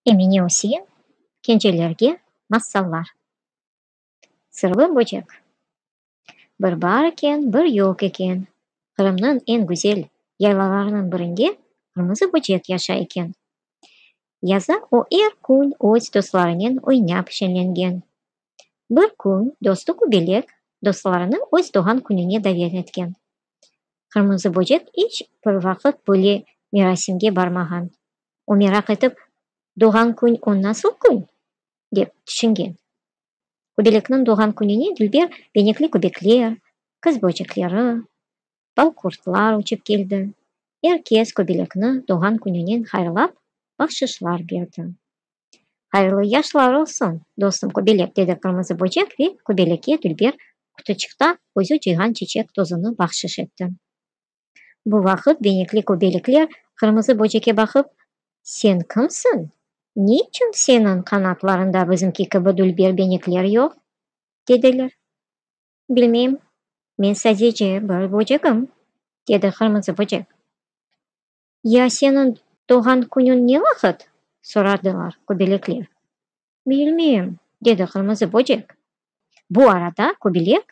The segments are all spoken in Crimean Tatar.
Emine Öseyin Kencelerge massallar Sırlı böcek Bir bar eken, bir yoq eken, Qırımnıñ eñ güzel yaylalarınıñ birinde qırmızı böcek yaşay eken. Yaza o er kün öz dostlarınen oynap şenlengen. Bir kün dostu Kübelek dostlarını öz doğğan kününe davet etken. Qırmızı böcek iç bir vaqıt böyle merasimge barmağan. O meraq etip, Doğğan kün o nasıl kün? dep tüşüngen. Kübelekniñ doğğan kününe dülber benekli kübekler, qız böcekleri, Bal-qurtlar uçıp keldi. Er kes köbelekni doğğan kününen hayırlap, bahşışlar berdi. Hayırlı yaşlar olsun, dostum köbelek, dedi qırmızı böcek ve köbelekke dülber qutuçıqta özü cıyğan çeçek tozunı bahşış etti. Bu vaqıt benekli köbelekler qırmızı böceke baqıp, Sen kimsiñ? Ne içün seniñ qanatlarında bizimki kibi dülber benekler yoq? dediler. Bilmeyim, men sadece bir böcegim, dedi qırmızı böcek. Ya seniñ doğğan künüñ ne vaqıt? soradılar köbelekler. Bilmeyim, dedi qırmızı böcek. Bu arada köbelek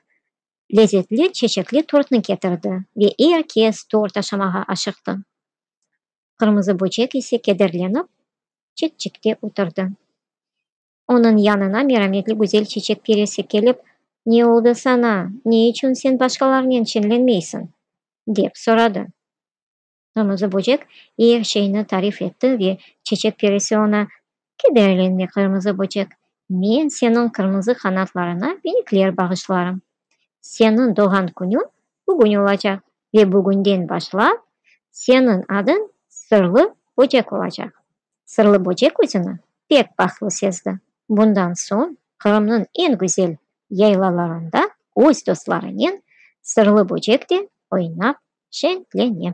lezetli çeçekli tortnı ketirdi ve er kes tort aşamağa aşıqtı. Qırmızı böcek ise kederlenip çetçekte oturdı. Onıñ yanına merametli güzel çiçek perisi kelip, Ne oldı saña, ne içün sen başqalarnen çenlenmeysiñ? dep soradı. Qırmızı böcek er şeyni tarif etti ve çiçek perisi oña, Kederlenme, qırmızı böcek, men seniñ qırmızı qanatlarıña benikler bağışlarım. Seniñ doğğan künüñ bugün olacaq ve bugünden başlap seniñ adıñ Sırlı böcek olacaq. Sırlı böcek özüni pek bahtlı sezdi. Bundan soñ Qırımnıñ eñ güzel yaylalarında öz dostlarınen Sırlı böcek de oynap şeñlene.